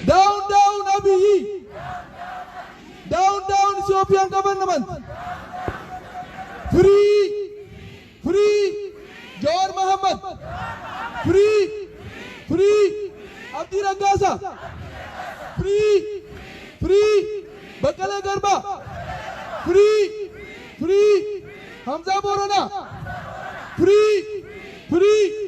Down down Abiyi. Down down Ethiopian government. Free free Jawar Mohammed. Free free Abdi Ragasa. Free free Bakale Garba. Free free Hamza Borana. Free free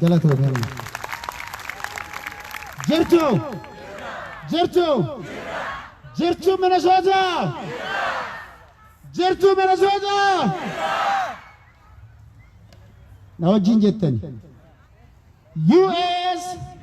Galatoomi amma. Jirtu! Jirtu! Jirtu Minnesota! Jirtu Minnesota! Na wajjin jettani. US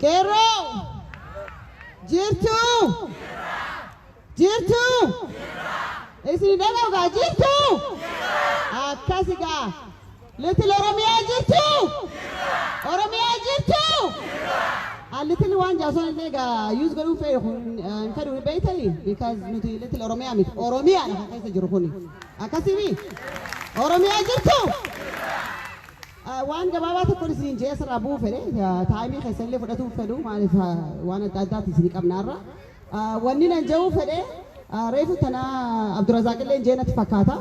Qeerroo! Jirtuu! Jirtuu! Isin dhaga'ugaa jirtuu! Akkasi gaa! Little Oromiyaa jirtuu? Jirra! Oromiyaa jirtuu? Jirra! An little waan jaasoon illee egaa use godhuu fedhu kun hin fedhu ni beeytani because nuti little Oromiyaa miti Oromiyaa dha kan keessa jiru kuni akkasimi Oromiyaa jirtu waan gabaabaa tokkoon isiniin jee asirraa bu'uu fedhe taayimii keessa illee fudhatuu fedhu maaliif waan adda addaati isinii qabnaarra wanni nan ja'uu fedhe reefu tanaa Abdurazaaq illee jeenatti fakkaata.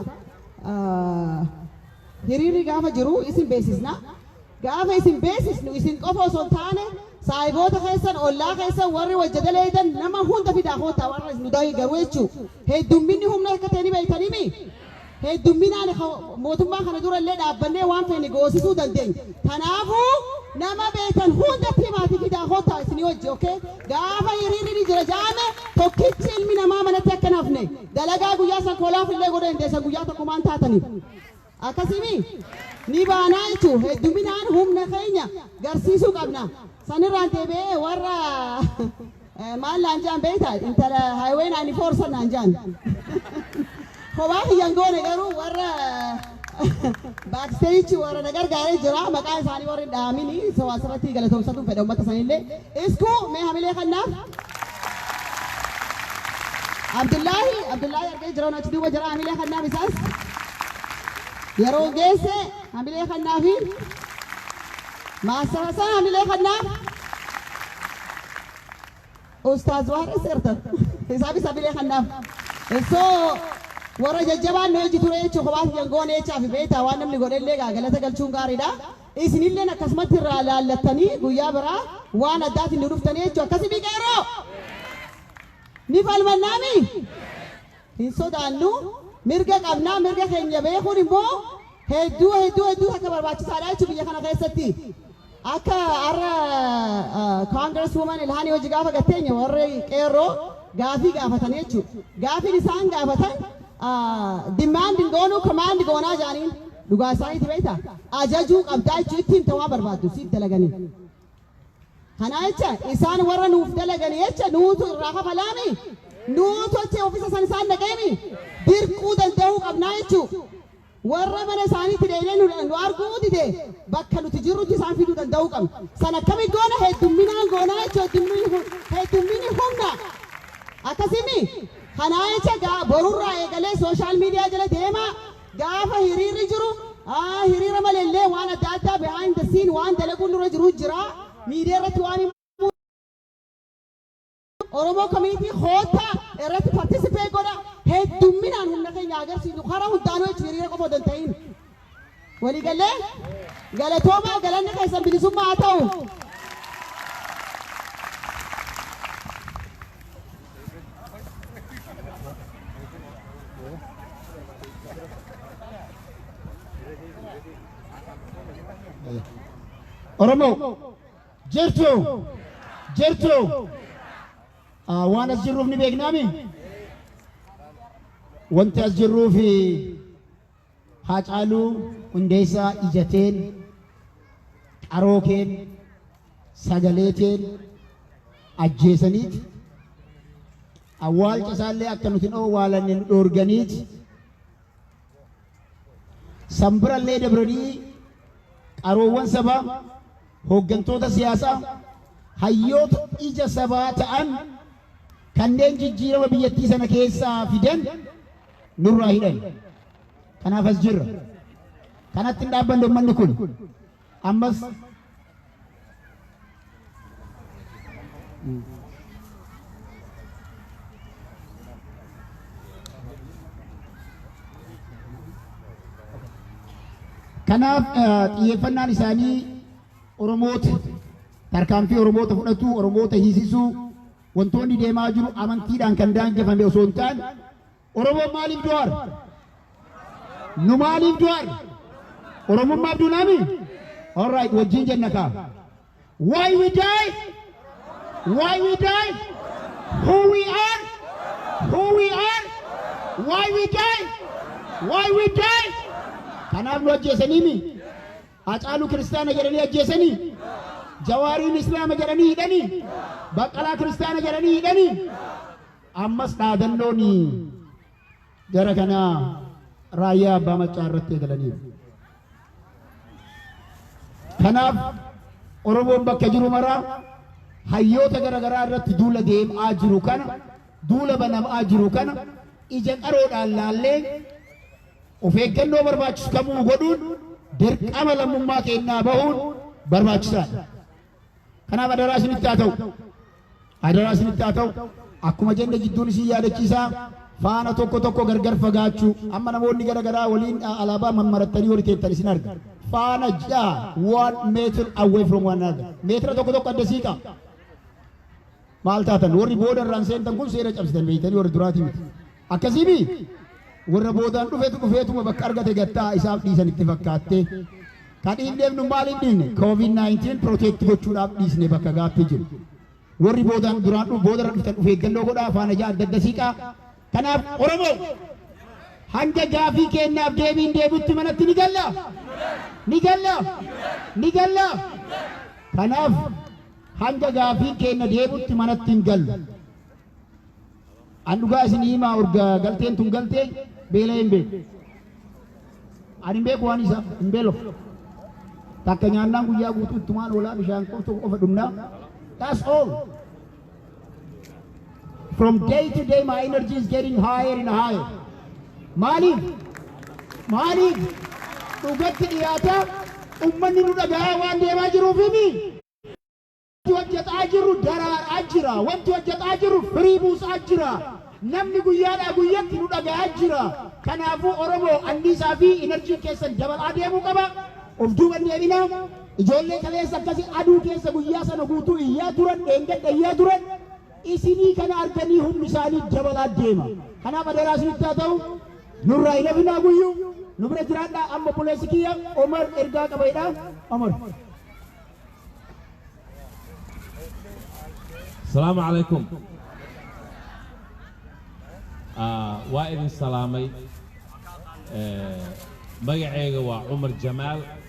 Hiriirri gaafa jiru isin beeksisna. Gaafa isin beeksisnu isin qofa osoo hin taane saahiboota keessan, ollaa keessan, warri wajja daleeydan nama hunda fidaa koottaa warra nu deeggaru jechuu. Heddumminni humna akka ta'e ni beeytanimi? Heddumminaan mootummaa kana dura illee dhaabbannee waan feene goosisuu dandeenya. Tanaafuu nama beeytan hundatti himaatii fidaa koottaa isinii wajji okay? Gaafa hiriirri ni jira ja'ame tokkichi ilmi namaa manatti akka hin hafne. Dalagaa guyyaa san kolaaf illee godhee hin teessan guyyaa tokko maan taataniif. Akkasii mii? Ni baanaa jechuun hedduminaan humna keenya garsiisuu qabna. Sanirraan deebi'ee warra maal naan jaan beekta intala highway 94 san naan jaan. Kophaa kiyyan goone garuu warra Backstage warra na gargaare jira maqaa isaanii warri hin dhaamini so asirratti galatoomsatu fedha ummata sanillee isku mee hamilee kannaaf Abdullaahi Abdullaahi argee jira nu achi duuba jira hamilee kannaaf isaas yeroo geesse hamilee kannaafi maasara isaa hamilee kannaaf Ustaaz waan as ertan isaaf isa bilee kannaaf so warra jajjabaan nu eji ture jechuun kophaa kiyyan goone jechaafi beektaa waan namni godhellee gaa galata galchuun gaariidha isinilleen akkasumatti irraa laallattanii guyyaa biraa waan addaatiin nu dhuftanii jechuu akkasi miqeeroo ni falmannaami hin sodaannu, mirga qabna, mirga keenya beekuun immoo hedduu hedduu hedduu takka barbaachisaadha jechuun biyya kana keessatti akka har'a Congress Woman Ilhaan Hojii gaafa gatteenya warri qeerroo gaafii gaafatan jechuudha. Gaafiin isaan gaafatan demand hin goonuu command goonaa jaaniin dhugaa isaaniiti beekta ajajuu qabdaa jechuu itti himta waan barbaaddu siif dalaganii. Kanaa jecha, isaan warra nuuf dalagani jecha nuutu irraa kafalaami? Nuu tolchee ofisa san isaan dhaqeemi? Dirquu danda'uu qabnaa jechuu? Warra mana isaaniitti deebinee nu, nu arguu dide bakka nuti jirrutti isaan fiduu danda'uu qabna. San akkami goona? Heddumminaan goonaa jechuu heddumminni, hu- heddumminni humna. Akkasimi? Kanaa jecha gaa borurraa eegalee sooshaal miidiyaa jala deemaa Gaafa hiriirri jiru, hiriira malee illee waan adda addaa behind the scene waan dalaguun nurra jiru jira. Media irratti waan himuu dandeenyu Oromoo Community koottaa irratti participate godha. Heddumminaan humna keenya haa agarsiisnu. Kara hundaanuu jechuun hiriira qofa odoo hin ta'iin. Walii gallee? Galatoomaa galanni keessan bilisummaa haa ta'u. Oromoo jirtuu jirtuu Ah, waan as jirruuf ni beeknaami wanti as jirruuf Haacaaluu Hundeessaa ija teen, qaroo keen, sagalee teen ajjeesaniit, awwaalcha isaallee akka nuti hin owwaalanne nu dhoorganiit, san birallee dabranii qaroowwan sabaa, hooggantoota siyaasaa, hayyoota ija sabaa ta'an kanneen jijjiirama biyyattii sana keessaa fidan nurraa hidhan. Kanaaf as jirra. Kanatti hin dhaabbanne ummanni kun ammas Kanaaf xiyyeeffannaan isaanii Oromoota tarkaanfii Oromoota fudhatu, Oromoota hiisisuu, Wantoonni deemaa jiru amantiidhaan kan daangefame osoo hin taane Oromoon maaliif du'aar? Nu maaliif du'aar? Oromummaaf duunaami? All right, wajjin jenna kaa. Why we die? Why we die? Who we are? Who we are? Why we die? Why we die? Kanaaf nu ajjeesaniimi? Hacaaluu kiristaana jedhanii ajjeesanii? Jawaariin islaama jedhanii hidhanii? Baqqalaa kiristaana jedhanii hidhanii? Ammas dhaadannoon jara kanaa raayyaa abbaa maccaa irratti eegalaniiru. Kanaaf Oromoon bakka jiru maraa hayyoota gara garaa irratti duula deemaa jiru kana duula banamaa jiru kana ija qaroodhaan laallee Of eeggannoo barbaachisu kamuu godhuun dirqama lammummaa keenyaa bahuun barbaachisaadha. Kanaaf adaraa isinitti haa ta'u. Adaraa isinitti haa ta'u. Akkuma jenne jidduun isin yaadachiisaa faana tokko tokko gargar fagaachuu amma namoonni gara garaa waliin alaabaa mammarattanii wali teettan isin arga. Faana ja'a one meter away from one another. Meetira tokko tokko adda siiqa. Maal taatan? Warri booda irraan seentan kun seera cabsitan beektanii warri duraatii miti. Akkasii mii? Warra boodaan dhufetu dhufeetuma bakka argate gattaa isaaf dhiisan itti fakkaattee. Kan hin deemnu maal hin dhiifne? COVID-19 protect gochuudhaaf dhiisne bakka gaaffii jiru. Warri boodaan duraan dhufu booda irra dhuftan of eeggannoo godhaa afaan ajaa adda adda siiqaa. Kanaaf Oromoo hanga gaaffii keenyaaf deebiin deebitti manatti ni galla. Ni galla. Ni galla. Kanaaf Hanga gaaffiin keenna deebutti manatti hin gallu. An dhugaa isinii himaa urga galteen tun galte beela'ee hin beeku. Ani hin beeku waan isaa hin beelof. Takka nyaannaan guyyaa guutuu ittumaan oolaa bishaan qofa qofa dhumnaa. That's all. From day to day my energy is getting higher and higher. Maaliif? Maaliif? Dhugatti dhiyaataa ummanni nu dhagahaa waan deemaa jiruufimi. Wanti hojjetaa jirru daraaraa jira. Wanti hojjetaa jirru firii buusaa jira. Namni guyyaadhaa guyyatti nu dhagahaa jira. Kanaafuu Oromoo anniisaa fi enerjiin keessan dabalaa deemuu qaba. Of duuban deebinaa. Ijoollee kaleessa akkasi aduu keessa guyyaa sana guutuu iyyaa turan, dheengadda iyyaa turan, isinii kana arganii humni isaanii dabalaa deema. Kanaaf adaraa isinitti haa ta'u, nurraa hin hafinaa guyyu, nu bira jiraadhaa, amma obboleessi kiyya Omar ergaa qaba jedha. Omar. Salaamu alaikum. Ah, waa idin salaamay Eh, magacayga waa cumar jamaal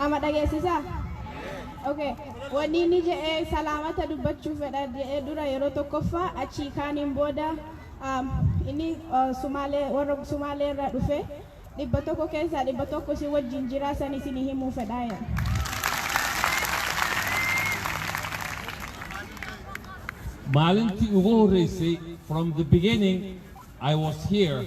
Ama dhageessisa? Okay. Wanni inni jedhe salaamata dubbachuu fedha jedhee dura yeroo tokkoffaa achii kaaniin booda um, inni uh, sumaalee warra sumaalee irraa dhufe dhibba tokko keessaa dhibba tokko isin wajjin jiraa san isin himuu fedhaa jedhe. maalintii ugu horreysay from the beginning I was here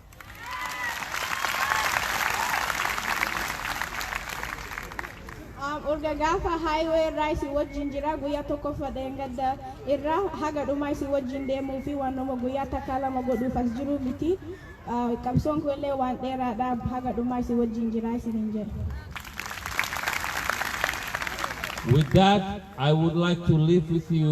um, urga gaafa highway irraa isin wajjin jira guyyaa tokkoffa dheengadda irraa haga dhumaa isin wajjin deemuu fi waanuma guyyaa takkaa lama godhuuf as jiru miti uh, qabsoon kun illee waan dheeraadha haga dhumaa isin wajjin jira isin hin jedhu. With that, I would like to leave with you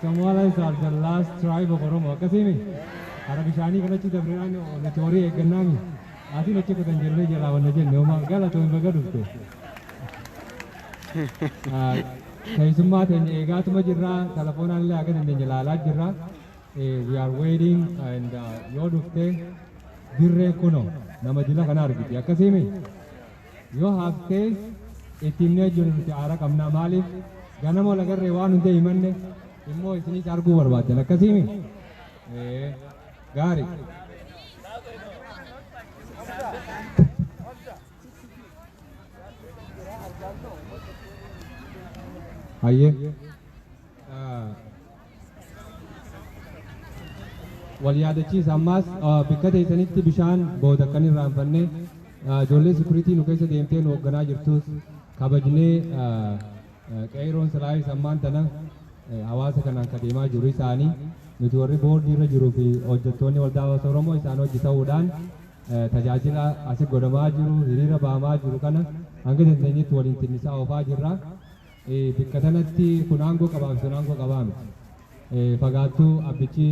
Somalis are the last tribe of Oromo. Akkasiimi? Hara bishaanii kan achi dabrinaan nuti horii eeggannaami. Asiin achi kutan jirree jalaa wanna jenne homaa galatoomi baga dhufte. Ah, Keessummaa teenya eegaatuma jirra. Telefoonaan illee akka dandeenye ilaalaa jirra. Eh, We are waiting and ah, yoo dhufte dirree kuno nama jila kana argiti. Akkasiimi? Yoo hafte itti himnee hojjennu nuti aara qabna maaliif ganama wal agarree waan hunda himanne immoo isinis arguu barbaaddan akkasiimi? Ee gaari. Hayyee. Wal yaadachiisa ammaas bikka teessanitti bishaan booda akka hin irraanfanne ijoollee sikuritii nu keessa deemtee nu hoogganaa jirtus kabajnee qeeroon silaayis ammaan tana hawaasa kanaan ka deemaa jiru isaanii nuti warri boordii irra jiruu fi hojjettoonni waldaa hawaasa Oromoo isaan hojii ta'uudhaan tajaajila asi godhamaa jiru hiriira baamaa jiru kana hanga dandeenyetti waliin tinnisaa oofaa jirra. Bikka tanatti kun aangoo qabaafi sun aangoo qabaa miti. Fagaattu abbichi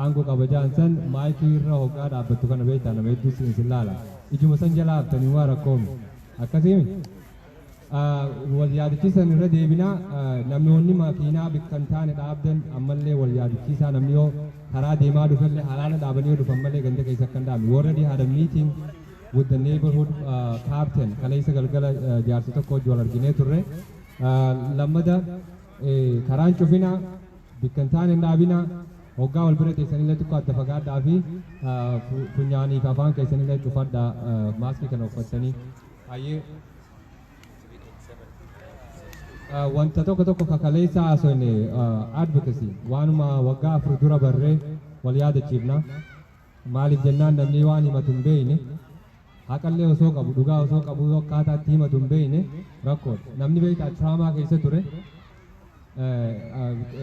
aangoo qaba ja'an san maayikii irra hoggaa dhaabbattu kana beektaa nama hedduu siin sin laala. Ijuma san jalaa haftanii humaa rakkoo miti. Akkasii miti? Wal yaadachiisan irra deebina namoonni makiinaa bikka hin taane dhaabdan ammallee wal yaadachiisaa namni yoo karaa deemaa dhufellee halaala dhaabanii yoo dhufan malee ganda keessa akka hin dhaabne. We already had a meeting. with the neighborhood uh, captain kaleessa galgala uh, jaarsi tokko wajji wal arginee turre uh, lammada eh, karaan cufina bikka hin taane hin dhaabina hoggaa wal bira teessanillee xiqqoo adda fagaadhaa fi uh, fu- funyaanii fi afaan keessanillee cufadhaa uh, maaskii kana uffattanii hayyee Uh, wanta tokko tokko kakaleessa haasofne uh, advocacy waanuma waggaa afur dura barree wal yaadachiifna Maaliif jennaan namnii waan himatu hin beeyne, haqallee osoo qabu, dhugaa osoo qabuu akkaataa itti himatu hin beeyne rakkoodha. Namni beeytaa traamaa keessa ture,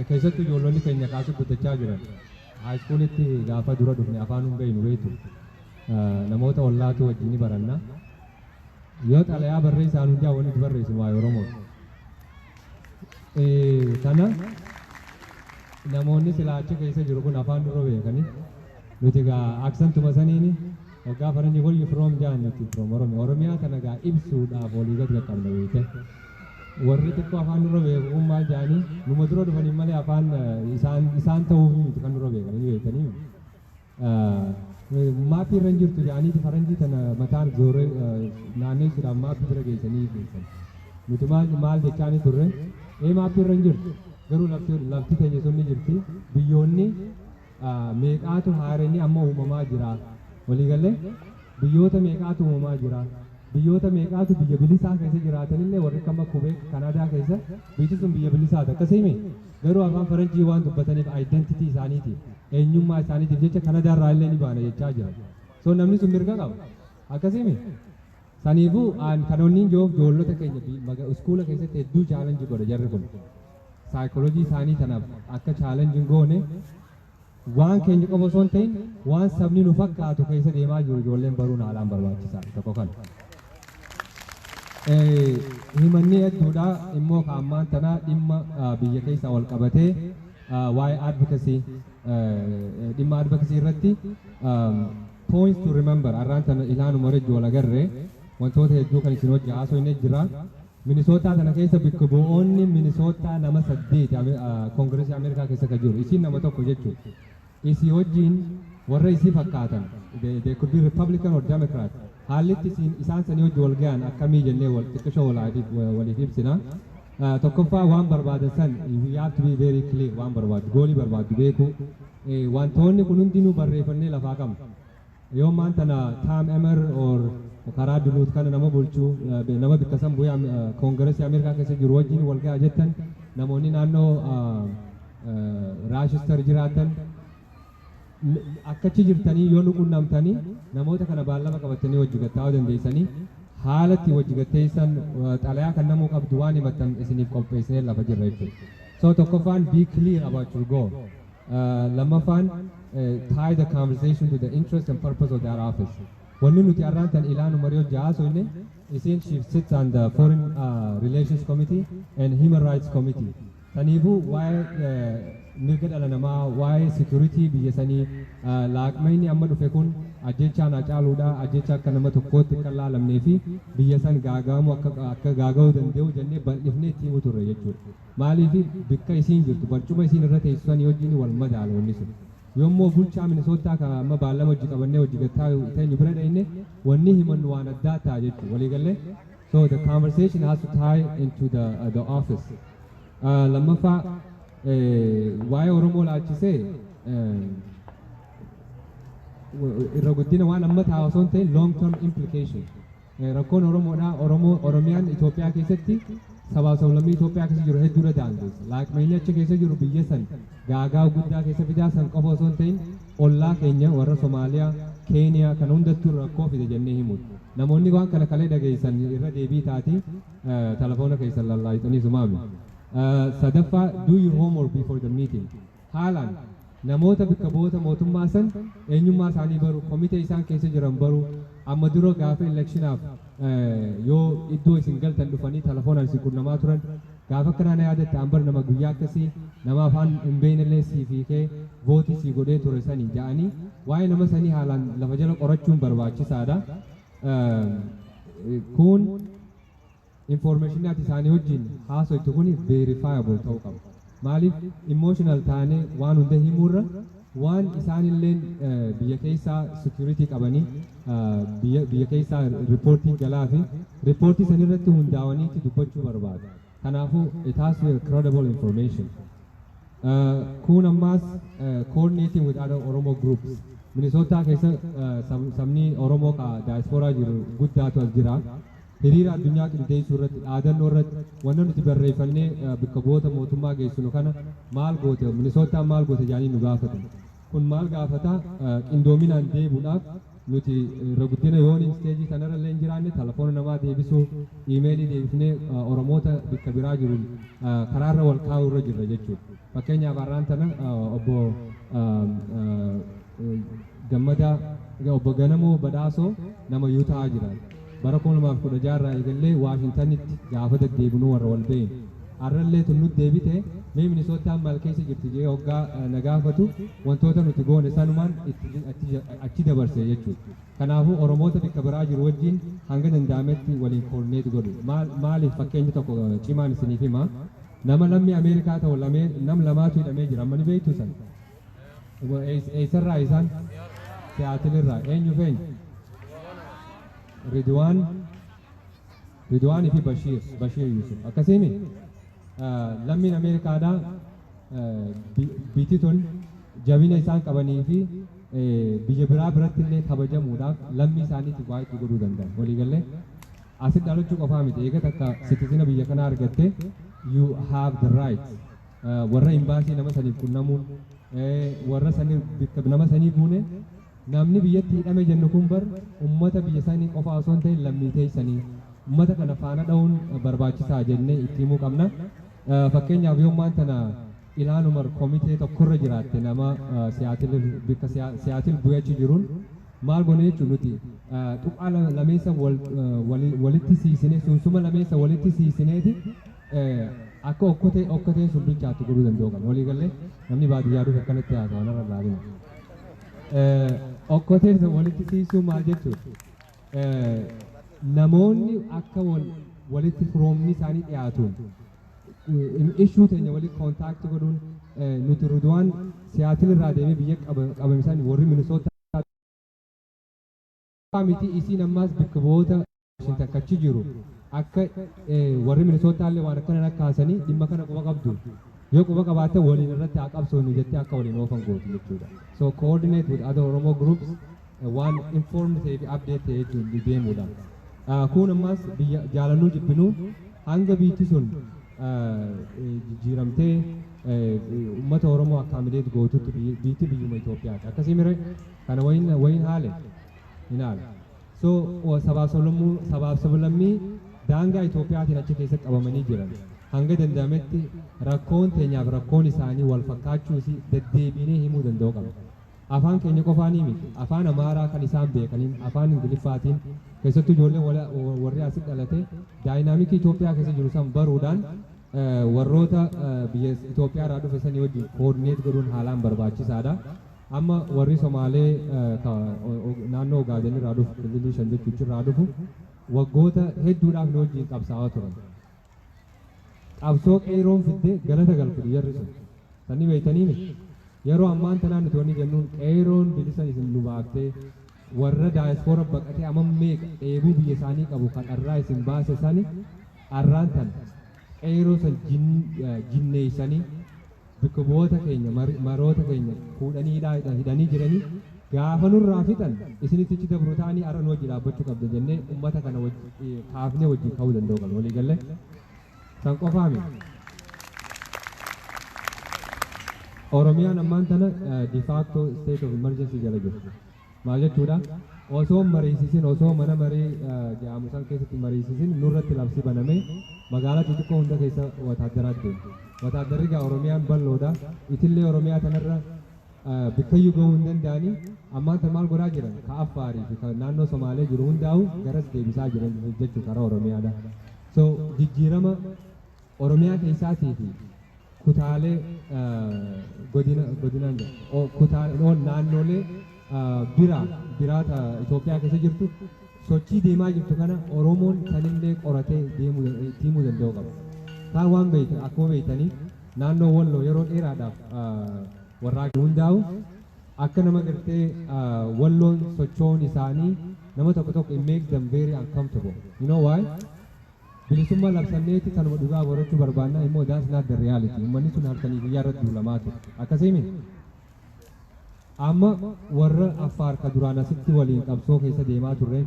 keessattu ijoollonni keenya kaa asii guddachaa jiran, haayiskuulitti gaafa dura dhufne afaan hin beeynu beeytu. Namoota ollaatu wajjin ni baranna. Yoo xalayaa barreessaan hundaa wanni itti barreessinu waa'ee Oromooti. Kana namoonni silaa achi keessa jiru kun afaan dura beekani. Nuti gaa aksantuma saniini waggaa faranji where you from jaan nuti from Oromia. Oromiyaa tana gaa ibsuudhaaf walii gad qaqqabna beekte. Warri xiqqoo afaan dura beeku kun maal jaani numa dura dhufaniin malee afaan isaan isaan ta'uuf miti kan dura beekani ni beektanii. Maappii irra hin jirtu jedhaniiti faranjii tana mataan zooree naanneessuudhaan maappii bira geessanii geessan. Nuti maal maal jechaanii turre ee maappii irra hin jirtu garuu lafti lafti teenya sun ni jirti biyyoonni meeqaatu haareenni amma uumamaa jira waliigalee biyyoota meeqaatu uumamaa jira biyyoota meeqaatu biyya bilisaa keessa jiraatanillee warri kama kubee kanaadaa keessa biyyi sun biyya bilisaati akkasii miti. Garuu afaan faranjii waan dubbataniif identity isaaniitiif, eenyummaa isaaniitiif jecha Kanadaa irraa illee ni baana jechaa jiran. So namni sun mirga qaba. Akkasimi? Saniifuu aan kan onniin jiruuf joollota keenya bi- maga- iskuula keessatti hedduu challenge godha jarri kun. Psychology isaanii tanaaf akka challenge hin goone Waan keenya qofa osoo hin ta'in waan sabni nu fakkaatu keessa deemaa jiru ijoolleen baruun haalaan barbaachisaadha. Tokko kana. Himannee hedduudha immoo ka ammaan tana dhimma biyya keessaa wal qabatee waa'ee advocacy dhimma advocacy irratti points to remember arraan tana ilaanuma rejju wal agarre wantoota hedduu kan isin hojja haasoo hin jira. Minisootaa tana keessa bikka bu'oonni Minisootaa nama saddeeti Kongiresii Ameerikaa keessa ka jiru. Isiin nama tokko jechuu. Isii wajjiin warra isii fakkaatan, they, they could be Republican or Democrat. Haallitti isiin isaan sanii wajji wal gayan akkamii jennee wal xiqqishoo wal adiif- waliif ibsina. Ah, Tokkoffaa waan barbaadan san you have to be very clear waan barbaaddu goolii barbaaddu beekuu. Eh, Wantoonni kun hundinuu barreeffannee lafaa qabna. Yoo ammaan tana Tam Emmer or karaa Duluth kana nama bulchu, nama bikka san bu'ee Kongiresii Ameerikaa keessa jiru wajjin wal gaha jettan, namoonni naannoo Raashister jiraattan akka achi jirtanii yoo nu qunnamtanii namoota kana baallama qabattanii wajji gad taa'uu dandeessanii haala itti wajji gad teessan xalayaa kan namuu qabdu waan himattan isiniif qopheessinee lafa jirra jechuudha. So tokkoffaan be clear about your goal. Lammaffaan tie the conversation to the interest and purpose of their office. Wanni nuti arraan tan ilaanu marii hojjaa haasoyne isiin she sits on the foreign uh, relations committee and human rights committee. Taniifuu waa'ee eh, mirga dhala namaa waa'ee security biyya sanii eh, laaqmayni amma dhufe kun ajjechaan hacaaluudha ajjecha akka nama tokkootti akka hin laalamnee fi biyya san gaagaamuu akka akka gaaga'uu danda'u jennee bal'ifnee itti himu turre jechuudha. Maaliif bikka isiin jirtu barcuma isiin irra teessu sanii wajjini wal madaala wanni sun. Yommoo bulchaa Minnesota ka amma baallama wajji qabannee wajji gad taa'u teenyu bira dhayne wanni himannu waan addaa ta'a jechu. Walii gallee? So the conversation has to tie into the, uh, the office. Uh, lammaffaa eh, waa'ee Oromoo laalchisee eh, irra guddina waan amma taa'u osoo hin ta'in long term implication Rakkoon Oromoodhaa Oromoo Oromiyaan Itoophiyaa keessatti sabaaf sablammii Itoophiyaa keessa jiru hedduudha daangeessa. Laaqmeenyi achi keessa jiru biyya san gaagaa guddaa keessa fidaa san qofa osoo hin ta'in ollaa keenya warra Somaaliyaa, Keeniyaa kana hundattuu rakkoo fida jennee himuun. Namoonni waan kana kalee dhageessan irra deebii taati telefoona keessan lallaayxanii sumaami. Sadaffaa do your homework before the meeting. Haalaan, namoota bkka bu'oota mootummaa san eenyummaa isaanii baruu, komitee isaan keessa jiran baruu, amma dura gaafa elekshinaaf yoo iddoo isin galtan dhufanii talafoonaan isin qunnamaa turan, gaafa akkanaa na yaadatta an bar nama guyyaa akkasii nama afaan hin beeynellee siif hiikee vootii sii godhee ture sani ja'anii waa'ee nama sanii haalaan lafa jala qorachuun barbaachisaadha. Kuun. Information ati isaani wajjin haasoytu kuni verifiable ta'uu qaba. Maaliif emotional taanee waan hunda himuu irra waan isaan illeen biyya keessaa security qabanii biyya biyya keessaa reportii galaa fi reportii san irratti hundaawaniitti dubbachuu barbaadu. Kanaafuu it has to be credible information. Kun ammaas coordinating with other Oromo groups. Minisootaa keessa sabni Oromoo ka daayispooraa jiru guddaatu as jira. hiriira addunyaa qindeessuu irratti dhaadannoo irratti wanna nuti barreeffannee bikka bu'oota mootummaa geessinu kana maal goote Minisoottaan maal goote jedhanii nu gaafatan. Kun maal gaafata qindoominaan deebuudhaaf nuti irra guddina yoon isteejii kanarra illee hin jiraanne telefoona namaa deebisuu iimeelii deebifnee Oromoota bikka biraa jiruun karaarra wal kaa'uu irra jirra jechuudha. Fakkeenyaaf har'aan tana obbo Gammadaa obbo Ganamoo Badhaasoo nama Yuutahaa jiraatu. Bara 2016 irraa eegallee Waashintanitti gaafa deddeebinuu warra wal beeynu. Har'allee tunnutti deebite mee Minisootaan maal keessa jirti jedhee hoggaa na gaafatu wantoota nuti goone sanumaan achi dabarse jechuudha. Kanaafuu Oromoota bakka biraa jiru wajjin hanga danda'ametti waliin koordineet godhu. Maaliif fakkeenyi tokko cimaan isiniif hima. Nama lammii Ameerikaa ta'u lamee nam lamaatu hidhamee jira amma ni beektu san. Dhuga- eess- Eessarraa isaan? Siyaatilirraa. Eenyuuf eenyu? Ridwaan Ridwaan fi Bashiir Bashiir Yusuf akkasiimi lammiin Ameerikaadhaa eh, bi- biti tun jabina isaan qabanii fi eh, biyya biraa biratti illee kabajamuudhaaf lammii isaaniitiif waa itti godhuu danda'an waliigallee Asitti dhalachuu qofaa miti, eega takka sitizina biyya kanaa argatte, you have the right warra imbaasii nama saniif qunnamuun, warra sanii bikka nama sanii buune, namni biyyatti hidhame jennu kun bar ummata biyya sanii qofaa osoo hin ta'in lammii teessanii ummata kana faana dha'uun barbaachisaa jennee itti himuu qabna. Fakkeenyaaf yoommaan tana Ilhaan Umar komitee tokkorra jiraatte nama Seattle bikka Seattle bu'e achi jiruun maal gone jechuun nuti tuqaa lameessa walitti siisinee sunsuma lameessa walitti siisineeti akka okkotee okkoteen sun bilchaattu godhuu danda'uu qabna. Walii gallee namni baadiyyaa dhufe akkanatti haasawa narra laalina. Okkoteen sun walitti siisuu maal jechuudha? namoonni akka wal walitti firoomni isaanii dhiyaatuun ishuu teenya walitti kontaakti godhuun nuti Ridwaan siyaatiin irraa deemee biyya qabame isaan warri Minnesota miti isiin ammaas bakka bu'oota Washington kachi jiru akka warri Minnesota illee waan akkana akka haasanii dhimma kana quba qabdu yoo quba qabaate waliin irratti haa qabsoonu jettee akka waliin oofan gootu jechuudha. So coordinate with other Oromo groups waan informed ta'ee fi update ta'ee jechuun deemuudha. Kuun ammaas biyya jaalannuu jibbinuu hanga biitti sun jijjiiramtee uummata Oromoo akkaamideet gootutti biitti biyyuma Itoophiyaati. Akkasii mire kana wayin wayin haale hin haale. So sabaaf sablammuu sabaaf sablammii daangaa Itoophiyaatiin achi keessatti qabamanii jiran hanga danda'ametti rakkoon teenyaaf rakkoon isaanii wal fakkaachuusi deddeebiinee himuu danda'uu qabna. Afaan keenya qofaanii miti, Afaan Amaaraa kan isaan beekaniin, Afaan Ingiliffaatiin, keessattuu ijoolleen wala, warri asi dhalate, daayinaamikii Itoophiyaa keessa jiru san baruudhaan warroota biyya Itoophiyaa irraa dhufe sanii wajjin koordineet godhuun haalaan barbaachisaadha. Amma warri Somaalee ka naannoo Ogaaden irraa dhufu, kililii shan jechuuchi irraa dhufu, waggoota hedduudhaaf nu wajjin qabsaa'aa turan. qabsoo qeeyroon fidde galata galfudhu jarri sun sanni beeytanii miti yeroo ammaan tanaa nuti wanni jennuun qeeyroon bilisan isin nu baaftee warra daayispoora baqatee amma meeqa dheebuu biyya isaanii qabu kan dharraa isin baase sani dharraan tan qeeyroo san jin- eh, jinneeysanii bikka bu'oota keenya maroota keenya fuudhanii hidhaa hidhanii jiranii gaafa nurraa fixan isinitti achi dabru ta'anii har'a nu wajji dhaabbachuu qabda jennee ummata kana wajji kaafnee wajjin ka'uu danda'u qabna walii galle san qofaa miti. Oromiyaan ammaan tana de facto state of emergency jala jirti. Maal jechuudha? Osoo hin mariisisin, osoo mana maree jedhaamu san keessatti hin mariisisin nurratti labsi banamee magaalaa xixiqqoo hunda keessa wataaddaraat deema. Wataaddarri egaa Oromiyaan bal'oodha. Itillee Oromiyaa tanarra bikkayyuu gahuu hin danda'ani. Ammaan tan maal godhaa jiran? Ka Affaarii fi ka naannoo Somaalee jiru hundaa'u garas deebisaa jiran jechuu karaa Oromiyaadha. So jijjiirama Oromiyaa keessaatii fi kutaalee godinaan naannoolee biraa biraata Itoophiyaa keessa jirtu sochii deemaa jirtu kana Oromoon sanillee qoratee deemuu danda'uu qaba. Kaan waan beektu akkuma beektanii naannoo Walloo yeroo dheeraadhaaf warraaqni hundaa'u akka nama gartee Walloon socho'uun isaanii nama tokko tokko it makes them very uncomfortable. You know why? Bilisumma labsanneeti kanuma dhugaa barachu barbaanna immoo that's not the reality ummanni sun halkanii guyyaa irratti duulamaa ture akkasii miti? Amma warra Affaar ka duraan asitti waliin qabsoo keessa deemaa turreen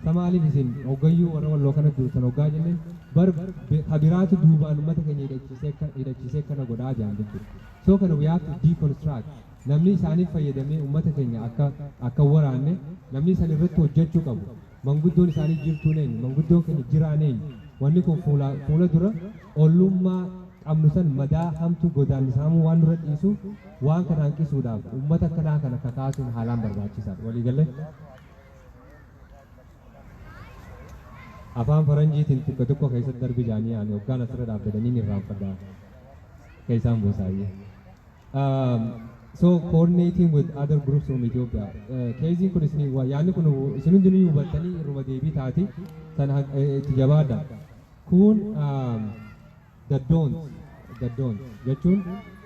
sa maaliif isin hoggayyuu warra walloo kanatti duultan hoggaa jenneen bar ka biraatu duubaan ummata keenya hidhachiisee hidhachiisee kana godhaa jedhan jechuudha. So kana we have to deconstruct namnii isaanif fayyadamee ummata keenya akka akkan waraanne namnii san irratti hojjachuu qabu manguddoon isaanii jirtuun eenyu manguddoon keenya jiraan eenyu wanni kun fuulaa fuula dura ollummaa qabnu san madaa hamtuu godaannisa hamuu waan nurra dhiisuuf waan kana hanqisuudhaaf ummata akkanaa kana kakaasuun haalaan barbaachisaadha walii galle afaan faranjiitiin xiqqo xiqqo keessatti darbi jaanii ani hoggaan asirra dhaabbatanii ni irraanfadha keessaan buusaayyee Um, so coordinating with other groups from Ethiopia. Uh, Keeziin kun isin waa yaadni kun isin hundi ni hubattanii irruma deebii taati sana haq- eh, itti jabaadha. Kun um, the don't the don't jechuun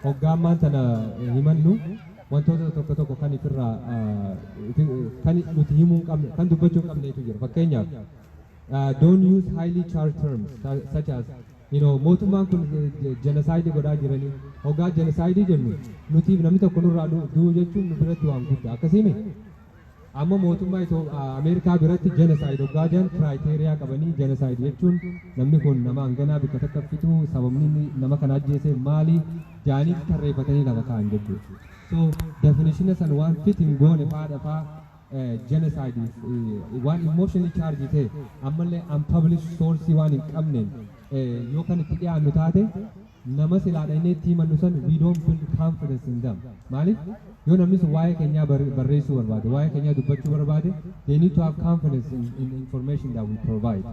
hoggaammaan sana eh, himannu wantoota tokko tokko kan ifirraa uh, ifi- eh, kan nuti himuu hin qabne kan dubbachuu hin qabnetu jira fakkeenyaaf. Uh, don't use highly charged terms su- such as You know mootummaan kun genocide godhaa jiranii hogaa genocide jennu nutiif namni tokko nurraa du- du'u jechuun nu biratti waan guddaa akkasii mi amma mootummaa Itoo- a- Ameerikaa biratti genocide hogaa jiran criteria qabanii genocide jechuun namni kun nama hanganaa bikka takka fituu sababni inni nama kana ajjeese maali jaaniif tarreeffatanii lafa kaa'an jechuudha so definitiona san waan fit hin goone faadha faa genocide waan emotionally charge ta'e ammallee unpublished source waan hin qabneen yoo kan itti dhiyaannu taate nama silaa dhaqnee itti himannu san we don't build confidence in them maaliif yoo namni sun waa'ee keenyaa barreessuu barbaade waa'ee keenyaa dubbachuu barbaade they need to have confidence in, in information that we provide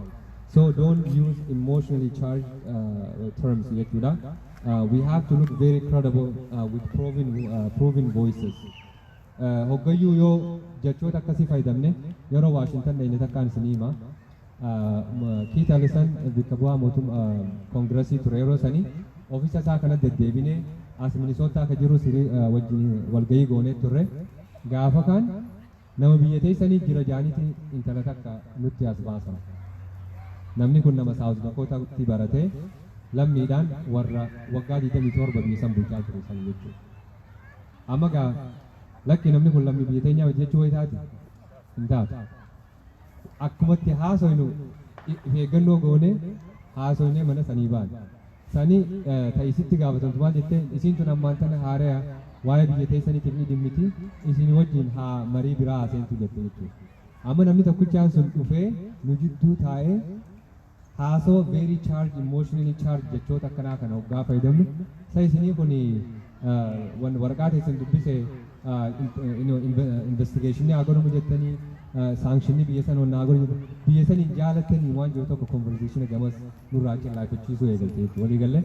so don't use emotionally charged uh, terms jechuudha uh, we have to look very credible uh, with proven, uh, proven voices Hoggayyuu yoo jechoota akkasii fayyadamne yeroo Waashintan dhayne takkaan isinii hima. Kiit Alisan bikka bu'aa mootum koongirasii ture yeroo sanii ofiisa isaa kana deddeebinee as Minisootaa akka jirus wajjin walgahii goonee turre. Gaafa kaan nama biyya teessanii jira jaaniiti intala takka nutti as baasan. Namni kun nama Saawus Dakootaatti baratee lammiidhaan warra waggaa 27 biyya san bulchaa ture san jechuudha. Amma gaa lakki namni kun lammii biyya teenyaa miti jechuu wayitaati hin taatu. Akkumatti haasoynu if eeggannoo goonee haasoynee mana sanii baane. Sanii ta'isitti gaafatamtu maal jettee isiin tun ammaan tana haaraya waa'ee biyya teessaniitiif ni dhimmiti isin wajjin haa marii biraa haaseentu jette jechuudha. Amma namni tokkichaan sun dhufee nu jidduu taa'ee Haasawa very charged, emotionally charged jechoota akkanaa kana hoggaa fayyadamnu sa isinii kun wan waraqaa teessan dubbise investigationii haa godhamu jettanii saankshinii biyya san onnaa godhu jettu biyya san hin jaalatanii waan jiru tokko conversation gamas nurraa cillaafachiisuu eegalte jechuudha walii galle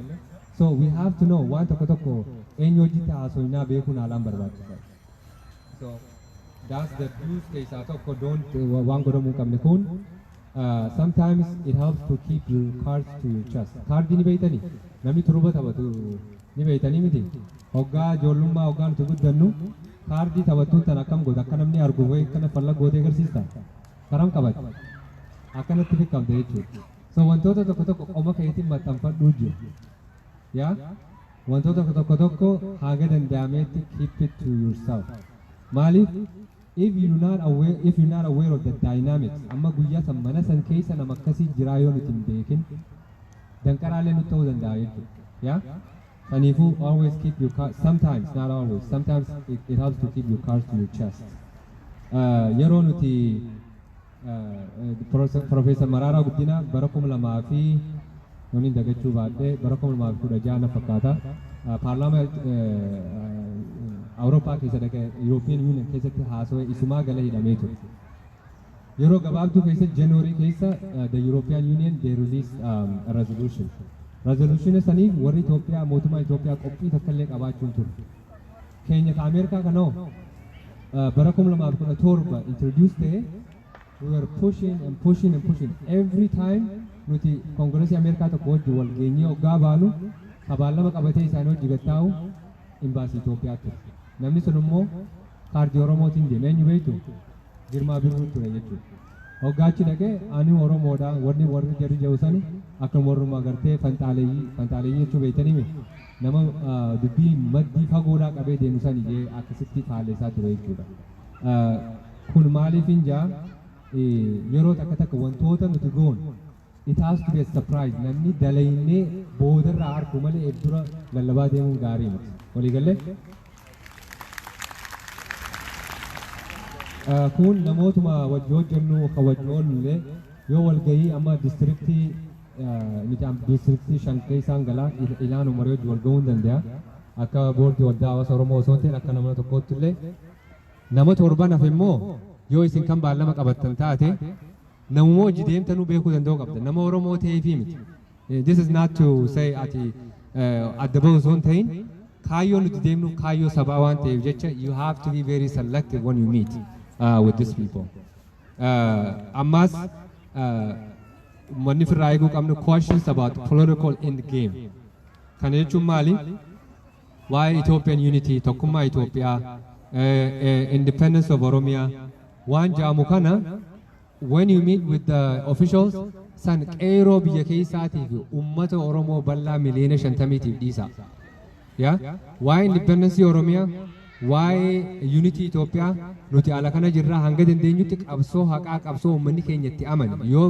so we have to know waan tokko tokko eenyu hojiitti haasoinaa beekuun haalaan barbaachisaadha. So that's the views keessaa tokko don't wa- waan godhamuu hin qabne kun uh, sometimes it helps to keep your cards to your chest. Kaardii ni beeytanii namni turuba taphatu ni beeytanii miti hoggaa ijoollummaa hoggaa nuti guddannu kaardii taphattuun tan akkam goota akka namni argu wayi akkana falla gootee agarsiista karam qabate akkanatti fiqqamte jechuudha. So wantoota tokko tokko qoma keetiin maxxanfadhuu jiru. Yeah? Wantoota tokko tokko haaga danda'ameetti keep it to yourself. Maaliif if you not aware if you not aware of the dynamics amma guyyaa san mana san keessa nama akkasii jiraa yoo nuti hin beekin danqaraalee nutti ta'uu danda'a jechuudha. Yeah? Saniifuu always keep your car sometimes not always sometimes it, it helps to keep your cards to your chest. Uh, yeroo nuti Pirofeesar Maraaraa Guddinaa bara 2000 yooniin dagachuu baadhee bara 2016 na fakkaata paarlaamaa Awurooppaa keessa dhaqee Yurooppiyeen Yuuniyen keessatti haasawee isumaa gala hidhamee ture. Yeroo gabaabduu keessa January keessa the European Union they release um, a resolution. Resolution saniif warri Itoophiyaa mootummaa Itoophiyaa qophii takka illee qabaachuu hin turre. keenya ka Ameerikaa kana hoo uh, bara 2017 introduce ta'e we were pushing and pushing and pushing every time nuti koongiresii Ameerikaa tokko wajji wal geenyee oggaa baanu kabaallama qabatee isaanii hojii gattaa'u imbaasii Itoophiyaa ture. Namni sun immoo kaardii Oromootiin deeme eenyu beektu Girmaa Birruu ture jechuudha. Hoggaachi dhaqee ani Oromoodha warri warri jarri jedhu sani akkuma warrumaa gartee fanxaaleeyyii fanxaaleeyyii jechuu beektanii miti. Nama dubbii maddii fagoodhaa qabee deemu san ijee akkasitti faalleessaa ture jechuudha. Kun maaliifin jaa yeroo takka takka wantoota nuti goon it has to be a surprise namni dalaynee boodarraa arku malee eef dura lallabaa deemuun gaarii miti. Waliigallee? Kun namootuma wajji hojjennu kan wajji oollu illee yoo walgahii amma diistiriktii Micaam diistiriktii shan keessaan galaa ilaanu marii wajji wal ga'uun danda'a. Akka boordii waldaa hawaasa Oromoo osoo hin ta'in akka nama tokkootti illee nama torban hafe immoo yoo isin kan baallama qabattan taate namuma wajji deemtanuu beekuu danda'uu qabda. Nama Oromoo ta'eefii miti. This is not to say ati adda bahu osoo hin ta'in kaayyoo nuti deemnu kaayyoo sabaa waan ta'eef jecha you have to be very selective when you meet uh, with these people. Ammaas uummanni firraa eeguu qabnu questions about political end game. Kana jechuun maali? Waa'ee Ethiopian unity, tokkummaa Itoophiyaa, independence of Oromia, waan ja'amu kana when you meet with the officials san qeeroo biyya keessaatiif uummata Oromoo bal'aa miliyoona shantamiitiif dhiisa. Yaa waa'ee independence Oromiyaa, waa'ee unity Itoophiyaa nuti ala kana jirraa hanga dandeenyutti qabsoo haqaa qabsoo uummanni keenya itti amane yoo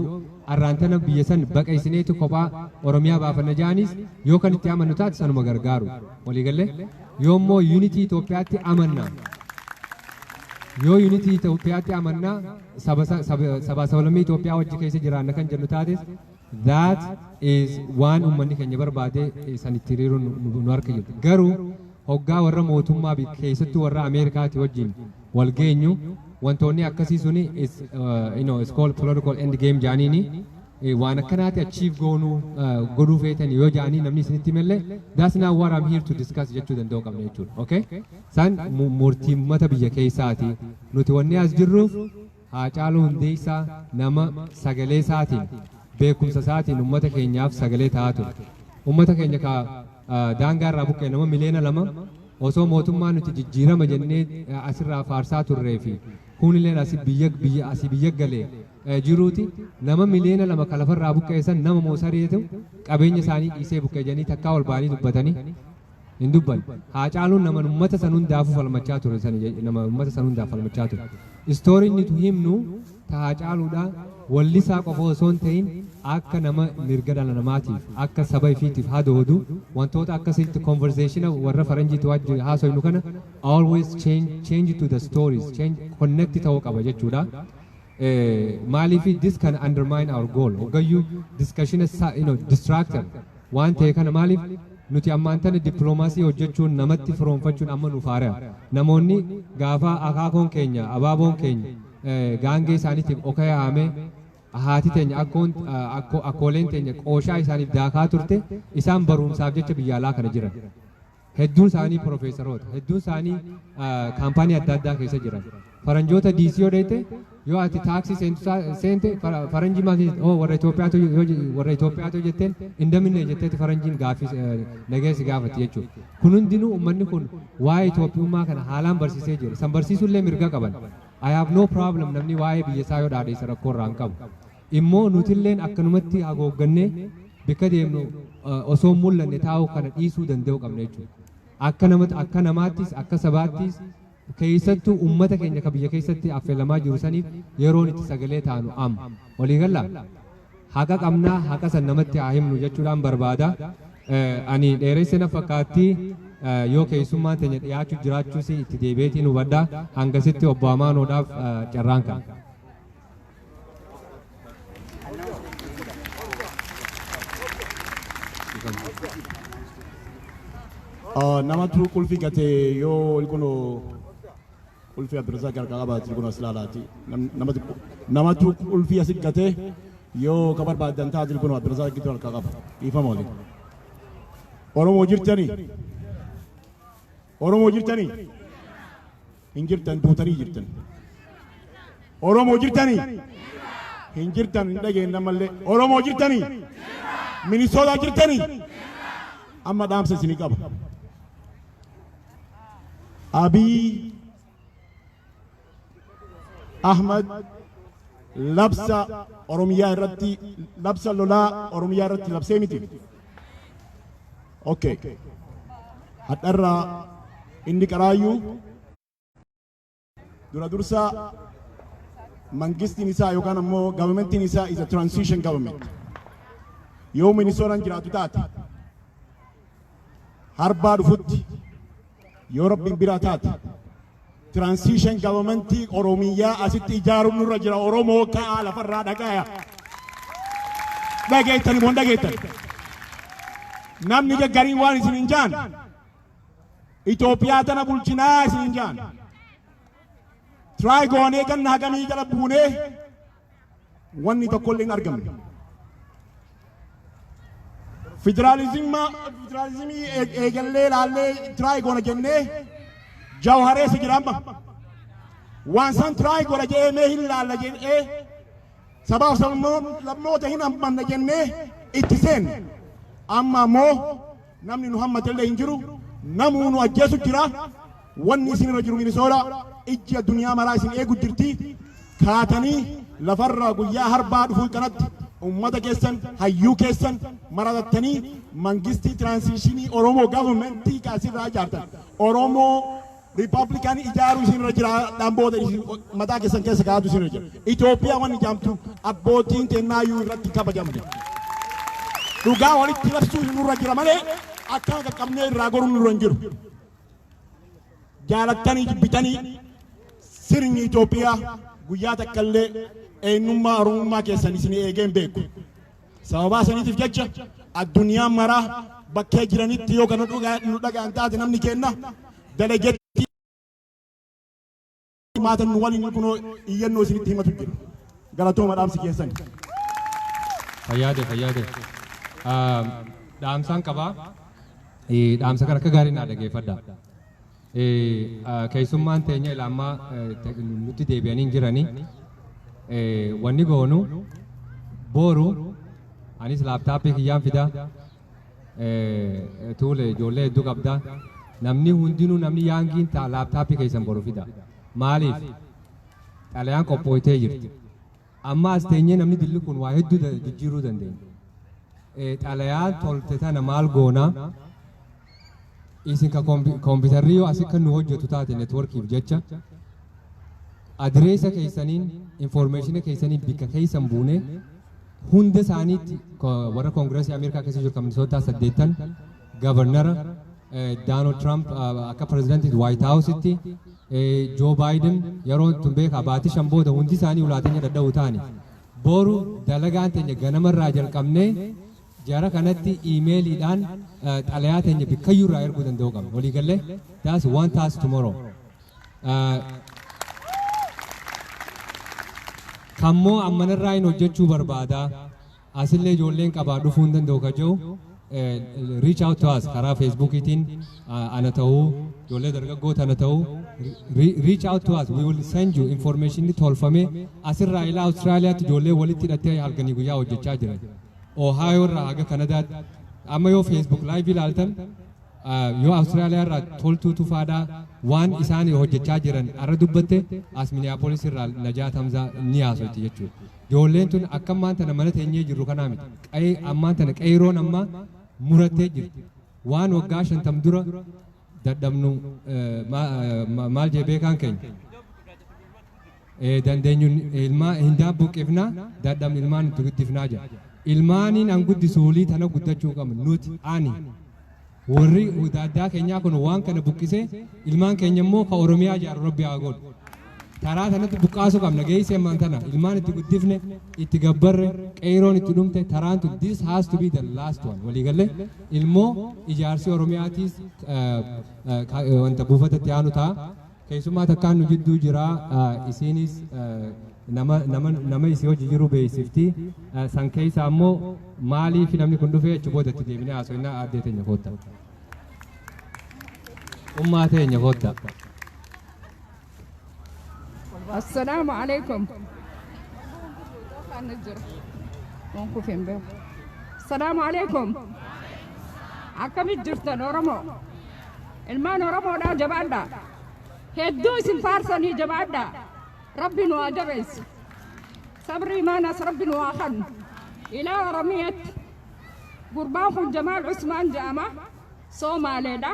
arraan tana biyya san baqaysineeti kophaa Oromiyaa baafanna ja'anis yoo kan itti amannu taate sanuma gargaaru. Walii gallee yoo immoo unity Itoophiyaatti amanna yoo unity Itoophiyaatti amanna saba saba sabaa sablammii Itoophiyaa wajji keessa jiraanna kan jennu taates That is waan ummanni keenya barbaade san itti hiriiruun nu harka jirti. Garuu hoggaa warra mootummaa biyya keessattuu warra Ameerikaati wajjin wal geenyu wantoonni akkasii suni is you know is called political end game jaaniini waan akkanaati achieve goonuu godhuu feetan yoo jaanii namni isinitti himellee that's not what I'm here to discuss jechuu danda'u qabna jechuudha. Okay? San murtii mata biyya keessaati nuti wanni as jirruuf Haacaaluu Hundeessaa nama sagalee isaatiin, beekumsa isaatiin uummata keenyaaf sagalee ta'aa ture. Uummata keenya ka daangaa irraa buqqa'e nama miliyoona lama osoo mootummaa nuti jijjiirama jennee asirraa faarsaa turree fi kuunilleen asi biyya biyya asi biyya galee jiruuti nama miliyoona lama ka lafarraa buqqa'e san nama moosareetu qabeenya isaanii dhiisee buqqa'e jedhanii takkaa ol ba'anii dubbatanii hin dubbanne. Haacaaluun nama uummata san hundaafuu falmachaa ture san nama uummata san hundaaf falmachaa ture. Istoorii inni tu himnu ta Haacaaluudha wallisaa qofa osoo hin ta'in akka nama mirga dhala namaatiif akka saba ifiitiif hadoodu wantoota akkasitti conversation warra faranjiitu wajji haasoynu kana always change, change to the stories change connect ta'uu qaba jechuudha. Maaliif this can undermine our goal hoggayyuu discussion sa- you know, distractor waan ta'e kana maaliif nuti ammaan tana dippiloomaasii hojjechuun namatti firoomfachuun amma nuuf haara namoonni gaafa akaakoon keenya abaaboon keenya eh, gaangee isaaniitiif okaya haamee haati teenya akkoon eh, akko- akkooleen teenya qooshaa isaaniif daakaa turte isaan barumsaaf jecha biyya alaa kana jiran Hedduun isaanii pirofeesaroota, hedduun isaanii kaampaanii adda addaa keessa jiran. Faranjoota DC yoo dheeyte yoo ati taaksii seentu isaa- seente fara- faranjii maaf jette? Oo warra Itoophiyaatu yoo je- warra Itoophiyaatu yoo jetteen hin daminne jetteeti faranjiin gaaffii eh, nagaya si gaafatti jechuudha. Kun hundinuu uummanni kun waa'ee Itoophiyummaa kana haalaan barsiisee jira. San barsiisuullee mirga qaban. I have no problem namni waa'ee biyya isaa yoo dhaadheessa rakkoo irraa hin qabu. immoo nutilleen akkanumatti hagooggannee bikka deemnu osoo hin mul'anne taa'uu kana dhiisuu danda'uu qabna jechuudha. Akka nama akka namaattis akka sabaattis keessattuu uummata keenya ka biyya keessatti affeelamaa jiru saniif yeroon itti sagalee taanu amma. Walii gallaa? Haqa qabnaa haqa san namatti haa himnu jechuudhaan barbaada. Eh, Ani dheeressa na fakkaatti eh, yoo keessummaan teenya dhiyaachuu jiraachuus itti deebi'eetiin hubadha. Hangasitti obbo Amaanoodhaaf eh, carraan kana. nama tuu qulfi gate yoo ilkuno qulfi abdurrazaaq harkaa qabaati ilkuno as laalaati nama tuu qulfi asi gate yoo ka barbaadan taati ilkuno abdurrazaaq gitu harkaa qaba dhiifama waliin oromoo jirtanii oromoo jirtanii Hin jirtan duutanii jirtan. Oromoo jirtanii? Hin jirtan hin dhageenye ammallee. Oromoo jirtanii? Minisootaa jirtanii? Amma dhaamsa isinii qaba. Abiy Ahmad labsa Oromiyaa irratti labsa lolaa Oromiyaa irratti labsee miti. Okay. Hadharraa inni qaraayyuu dura dursa mangistiin isaa yookaan ammoo governmentiin isaa is a transition government. Yoo Minisootaan jiraatu taate harbaa dhufutti yoo rabbiin biraa taate Transition government Oromiyyaa asitti ijaaruun nurra jira Oromoo ka'aa lafarraa dhagaya. Dhageettani moo hin dhageettani? Namni gaggariin waan isin hin jaan Itoophiyaa tana bulchinaa isin hin jaan. Tiraay goonee ganna hagamii jala buunee wanni tokkollee hin argamne. Federaalizimii eegallee laallee tiraay goona jennee jawharee si jira amma. Waan san tiraay goona jedhee mee hin laalla jennee sabaaf sablammoota hin hammanna jennee itti seenne. Amma ammoo Namni nu hammatellee hin jiru. Namuu nu ajjeesu jira. Wanni isin irra jiru Minisoola ijji addunyaa maraa isin eegu jirti. Kaatanii lafarraa guyyaa harbaa dhufuu tanatti ummata keessan, hayyuu keessan maratattanii mangistii tiraansiishinii Oromoo government ka asirraa ijaartan Oromoo Republican ijaaruu isin irra jira dhaan booda isin mataa keessan keessa kaa'atu isin irra jira. Itoophiyaa waan ijaamtu abbootiin tennaayyuu irratti kabajamne. Dhugaa walitti labsuu isin irra jira malee akkaa qaqqabnee irraa goruun nurra hin jiru. Jaalattanii jibbitanii sirni Itoophiyaa guyyaa takka illee eenyummaa Oromummaa keessan isin eegee hin beeku. Sababaa saniitiif jecha addunyaan maraa bakkee jiranitti yoo kana nu dhaga'an taate namni keenna dalagetti maatan nu waliin kunoo iyyannoo isinitti himatu jira. Galatooma dhaamsi keessan. Fayyaade fayyaade. Dhaamsaan qabaa. Dhaamsa kana akka gaarii naa dhageeffadha. Keessummaan teenya ila ammaa nutti deebi'anii jiranii wanni goonu booru anis laaptaappii kiyyaan fida tuule ijoollee hedduu qabda namni hundinuu namni yaangiin ta'a laaptaappii keessan boru fida maaliif xalayaan qophooytee jirti amma as teenyee namni dilli kun waa hedduu jijjiiruu dandeenya xalayaan tolte tana maal goonaa Isin ka kompi- kompitarri yoo asi kan nu hojjetu taate networkiif jecha adireesa keessaniin informeeshina keessaniin bikka keessan buune hunda isaaniitti ko- warra koongireesii Ameerikaa keessa jiru kan Minisootaa saddeettan gavarnara Daanald Tiraamp akka pirezidantiitti Waayit Haawusitti Joo Baayiden yeroo tun beekaa baatii shan booda hundi isaanii ulaateenya dadhabuu taani. Boru dalagaan teenya ganamarraa jalqabnee Jara kanatti email dhaan xalayaa teenya bikkayyuu irraa erguu danda'uu qabna. Walii gallee? That's one task tomorrow. Kammoo ammanarraa hin hojjechuu barbaada. Asillee ijoolleen qabaa dhufuu hin danda'u ka jiru. Reach out to us karaa Facebookiitiin ana ta'uu, ijoollee dargaggoota ana ta'uu. Reach out to us, we will send you information tolfamee asirraa ilaa Austraaliyaatti ijoollee walitti hidhattee halkanii guyyaa hojjechaa jiran. Ohio irraa haga Kanadaatti amma yoo Facebook live ilaaltan ah, yoo Australia irraa toltuu tufaadhaa waan isaan hojjechaa jiran arra dubbatte as Minneapolis irraa Najaat Hamzaa ni haasoyti jechuudha. Ijoolleen tun akka ammaan tana mana teenyee jirru kanaa miti. Qa'ee ammaan tana qeeroon ammaa murattee jirti. Waan waggaa shantam dura dadhabnu eh, ma- eh, ma- maal jee beekaan keenya. dandeenyun ilmaa hin daabbuqqifna dadham ilmaan itti guddifnaa jedha. Ilmaaniin an guddisu hulii tana guddachuu qabna nuti ani warri daaddaa keenyaa kun waan kana buqqisee ilmaan keenya immoo ka Oromiyaa jaaru rabbi haa godhu. Karaa sanatti buqqaasuu qabna geessee ammaan tana ilmaan itti guddifne itti gabbarre qeeroon itti dhumte taraan tun this has to be the last one waliigalee ilmoo ijaarsi Oromiyaatiis wanta buufatatti aanu ta'a. Keessummaa takkaan nu jidduu jira isiinis nama nama nama isii hojii jiru beeksifti san keessa ammoo maaliif namni kun dhufee achi booda itti deebinee haasofnaa aaddee teenya kootta. Ummaa teenya kootta. Assalaamu alaikum. Kana jira. Waan kufe hin beeku. Assalaamu alaikum. Akkamit jirtan Oromoo? Ilmaan Oromoodhaa jabaadhaa. Hedduu isin faarsanii jabaadhaa. Rabbi nu haa jabeessu. Sabrii maanas Rabbi nu haa kennu. Ilaa Oromiyaatti gurbaan kun Jamaal Usmaan jedhama. Soomaaleedha.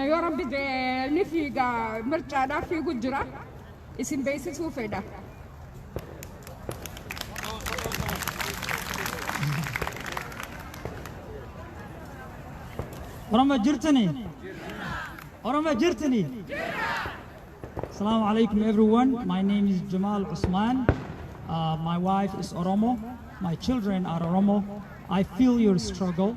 Yoo Rabbi jedhe ni fiiga mircaadhaaf fiigu jira. isin beeksisuu fedha. Oromo jirtani? Oromo jirtani? Assalamu alaikum everyone. My name is Jamal Usman. Uh, my wife is Oromo. My children are Oromo. I feel your struggle.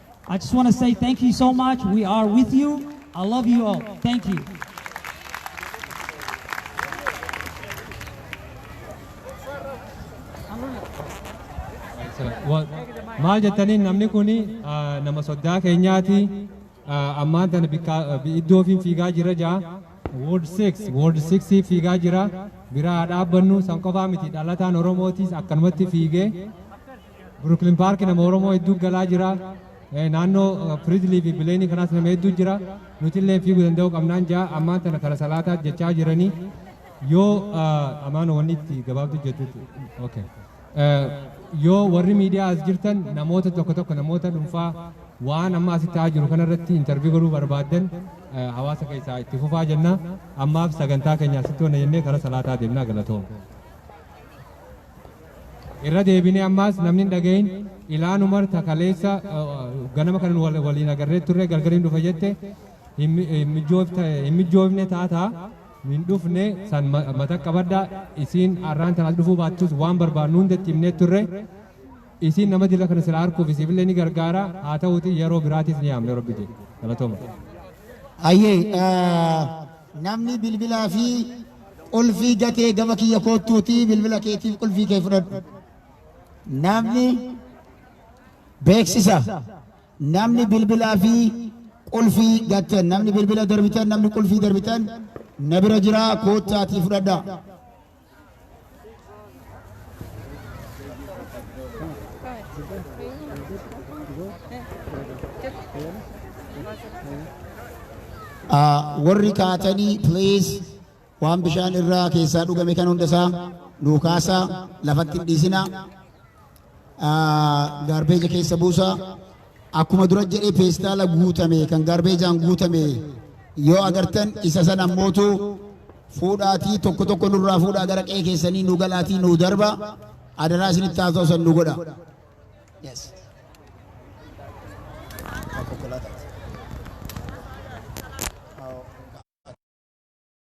I just wanna say thank you so much we are with you I love you all thank you. maal jettaniin namni kun nama soddaa keenyaati ammaan tana iddoo ofiin fiigaa jira jaa wood 6 wood 6 fiigaa jira biraa dhaabbannu san qofaa miti dhalataan oromootis akkanumatti fiigee Brooklyn Park nama Oromoo hedduu galaa jira. Eh, Naannoo Fridley fi Bileenii kanaas nama hedduu jira. Nuti illee fiiguu danda'uu qabnaan jaa ammaan tana kara salaataa jechaa jiranii yoo ah, amaan wanni itti gabaabdu jettutti. Okay. Eh, Yoo warri miidiyaa as jirtan namoota tokko tokko namoota dhuunfaa waan amma asitti ta'aa jiru kanarratti intarvii godhuu barbaaddan eh, hawaasa keessaa itti fufaa jenna. Ammaaf sagantaa keenya asitti hona jennee kara salaataa deemnaa galatooma. Irra deebinee ammaas namni hin dhagahin Ilaan Umar ta kaleessa ganama kan waliin agarree turre galgaliin dhufa jette hin mijoofne taata hin dhufne san mata qabadha isiin arraan tanaas dhufuu baattus waan barbaadnu hunda itti himnee turre isiin nama dila kana sila harkuuf isiifillee ni gargaara haa ta'uuti yeroo biraatiis ni yaamne rabbi jee galatoma. Ayyee Namni bilbilaa fi qulfii gatee gama kiyya koottuutii bilbila keetiif qulfii kee fudhadhu. Namni beeksisa namni bilbilaa fi qulfii gattan namni bilbila darbitan namni qulfii darbitan na bira jira koottaatii fudhadha. warri kaatanii please waan bishaan irraa keessaa dhugame kan hundasaa nuu kaasaa lafatti hin dhiisinaa. gaarbeeja keessa buusa. Akkuma dura jedhee peestaala guutame kan gaarbeejaan guutame yoo agartan isa san ammootu fuudhaatii tokko tokko nurraa fuudhaa gara qe'ee keessanii nu galaatii nu darba adaraa isinitti haasa'u san nu godha. Yes.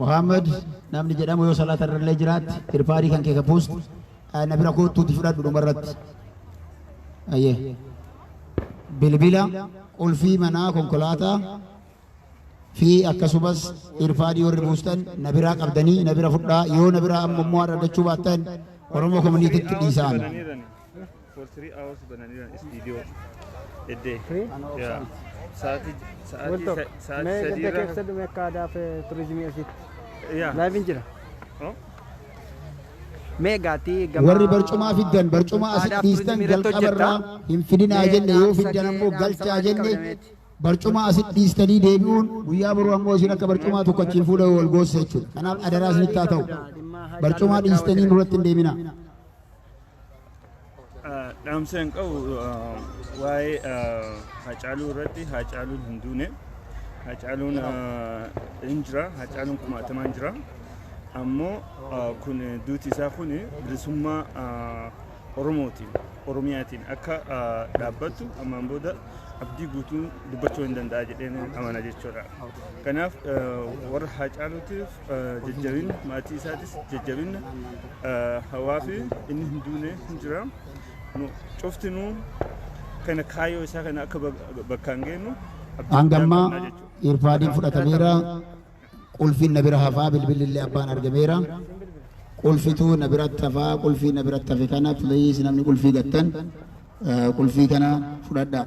Muhammad namni jedhamu yoo salaata irrallee jiraatte irpaarii kan kee ka puust na bira koottuuti fudhadhu dhumarratti. Ayyee. Bilbila, qulfii manaa, konkolaataa fi akkasumas irpaadii warri buustan na biraa qabdanii na bira fudhaa yoo na biraa amma immoo argachuu baattan Oromoo komuniitiitti dhiisaan. for three hours bananiiran istiidiyoo eddee Free? Ano yaa obsaan. sa'aatii sa'aatii Wanto, sa- mee sa'aatii gadda sadii irraa keessa dhume akka aadaa fi turizimii asitti. yaa Laayiviin jira. Oh. Mee gaatii gama warri barcumaa fiddan barcumaa asitti aadaa fi dhiistan turizimii irratti jalqaba irraa hojjettaa? hin fidinaa Mee jenne yoo dhaamsa fiddan kee, ammoo dhaamsa galchaa maalii jenne qabameeti? barcumaa asitti dhiistanii deebi'uun guyyaa boruu ammoo isin akka barcumaa tokko achiin fuula wal goossa jechuudha kanaaf adaraa isinitti haa ta'u barcumaa dhiistanii nurratti hin deeminaa. Dhaamsa hin qabu waa'ee Haacaaluu irratti Haacaaluun hin duune. Haacaaluun hin jira. Haacaaluun kumaatamaan jira. Ammoo kun duuti isaa kun bilisummaa Oromootiin Oromiyaatiin akka dhaabbattu ammaan booda abdii guutuun dubbachuu hin danda'a jedheen amana jechuudha. Kanaaf warra Haacaaluutiif jajjabinna maatii isaatis jajjabinna hawaa fi inni hin duune hin jira. Nu cuftinuu kana kaayoo isaa kana akka bakkaan geennu Hangammaa irfaadiin fudhatameera. Qulfiin na bira hafaa bilbilli illee abbaan argameera. Qulfituu na biratti hafaa qulfii na biratti hafe kana please namni qulfii gattan eh, qulfii kana fudhadhaa.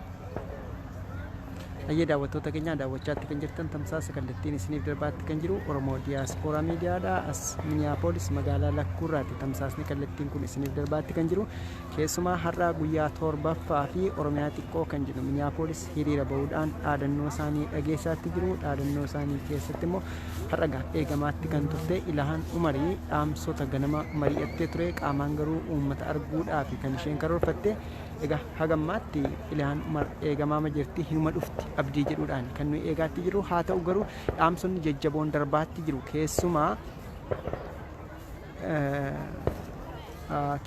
Hayyee daawwattoota keenya daawwachaatti kan jirtan tamsaasa kallattiin isiniif darbaatti kan jiru Oromoo Diyaaspooraa Miidiyaadha. As Miniyaapolis magaalaa Lakkuurraatti tamsaasni kallattiin kun isiniif darbaatti kan jiru. Keessumaa har'a guyyaa torbaffaa fi Oromiyaa xiqqoo kan jedhu Miniyaapolis hiriira bahuudhaan dhaadannoo isaanii dhageessaatti jiru. Dhaadannoo isaanii keessatti immoo har'a gaa eegamaatti kan turte Ilahaan Umarii dhaamsota ganama mari'attee ture qaamaan garuu uummata arguudhaaf kan isheen karoorfatte Egaa haga ammaatti Ilhaan Umar eegamaama jirti, hinuma dhufti abdii jedhuudhaani kan nuyi eegaatti jirru. Haa ta'u garuu dhaamsonni jajjaboon darbaatti jiru. Keessumaa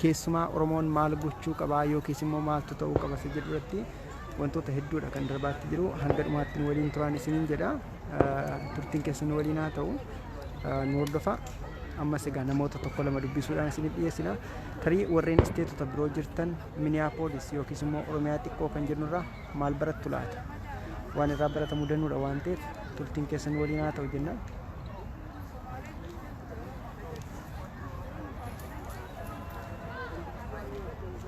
keessumaa Oromoon maal gochuu qabaa yookiis immoo maaltu ta'uu qaba isa jedhu irratti wantoota hedduudha kan darbaatti jiru. Hanga dhumaatti nu waliin turaan isiniin jedha. turtiin keessan nu waliin haa ta'u nu hordofaa. Ammas egaa namoota tokko lama dubbisuudhaan isiniif dhiyeessina. Tarii warreen isteetota biroo jirtan Minneapolis yookiis immoo Oromiyaa xiqqoo kan jirnurraa maal barattu laata? Waan irraa baratamu danuudha waan ta'eef turtiin keessan nu waliin haa ta'u jennaan.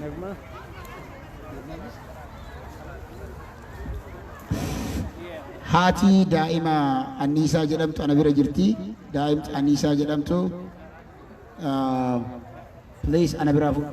Nagma. Haati daa'ima anniisaa jedhamtu ana bira jirti. Daa'imti anniisaa jedhamtu. Please ana biraa fuudhu.